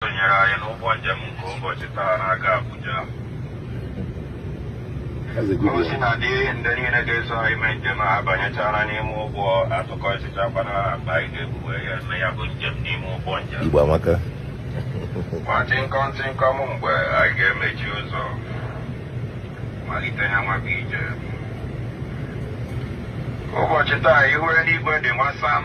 sonyere anyị n'ụgbọ njem nke ụbọchị taa na-aga Abuja ozi na dị ndị niile ga-eso anyị mee njem a banyechara n'ime ụgbọ a tụkọsịchakwana akpa anyị ga-ebuwe ya na ya bụ njem n'ime ụgbọ njem Igbo amaka nwa tịnkọm tịnkọm mgbe anyị ga-emechi ụzọ malite ya nwaka ije ụbọchị taa ihu eluigwe dị nwa sam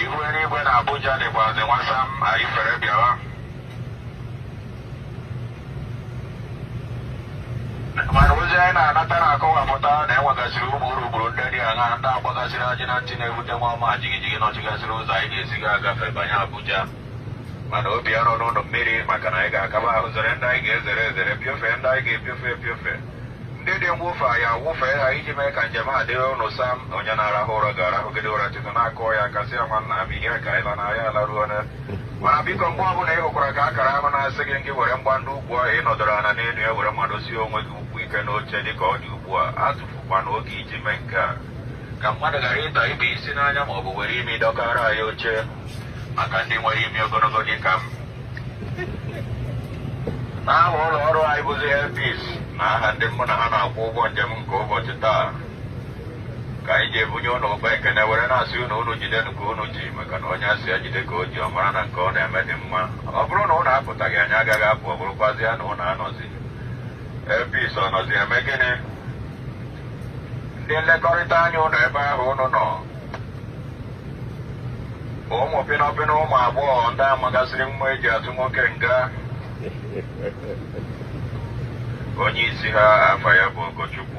ihu eluigwe na Abuja dịkwazi nwa sam anyị fere bịawa mana ozi anyị na-anata na-akọwapụta na e nwegasịrị ụmụ urukpuru ndị dị aṅa ndị agbagasịrị ajị na ntị na-ebute nwa ọma jigijigi nọchigasịrị ụzọ anyị ga-esi ga agafe banye Abuja mana obi arọna ụnụ mmiri maka na anyị ga-akaba ahụ zere ndị anyị ga-ezere ezere piofee ndị anyị ga-epiofe epiofe ndị dị mwụfe anyị wụfee ha iji mee ka njem a dịrị ụnụ sam onye na-arahụ ụra ga-arahụgide ụra tutu na a kụọ ya aka sị ya nwanna m ihe ka ịla na anyị alaruona mana biko mgbe ọbụla ị hụkwara ka akara ahụ na-asị gị gị were mgbaji ukwu ahụ ị nọdụrụ ala n'elu ya were madosie onwe gị ukwu ike n'oche dị ka ọ dị ugbu a atụfukwana oge iji mee nke a ka mmadụ ghara ịta ibe isi n'anya ma ọ bụ were imi dọkara anyị oche maka ndị nwere imi ogologo dị ka m n'aha ụlọ ọrụ anyị bụzi Air Peace n'aha ndị mụ na ha na-akwọ ụgbọ njem nke ụbọchị taa ka anyị ji ebunye unu ụba ekene were na-asị unu unu jide nke unu ji maka na onye a sị ya jide ka o ji ọ mara na nke o na-eme dị mma ọ bụrụ na unu apụtaghị anyị agaghị apụ ọ bụrụkwazịa na unu anọzi Air Peace ọ nọzi eme gịnị ndị nlekọrịta anya ụnụ ebe ahụ ụnụ nọ ụmụ pịnọpịnọ ụmụ agbọghọ ndị a magasịrị mma e ji atụ nwoke nga onye isi ha afa ya bụ Ọgọchukwu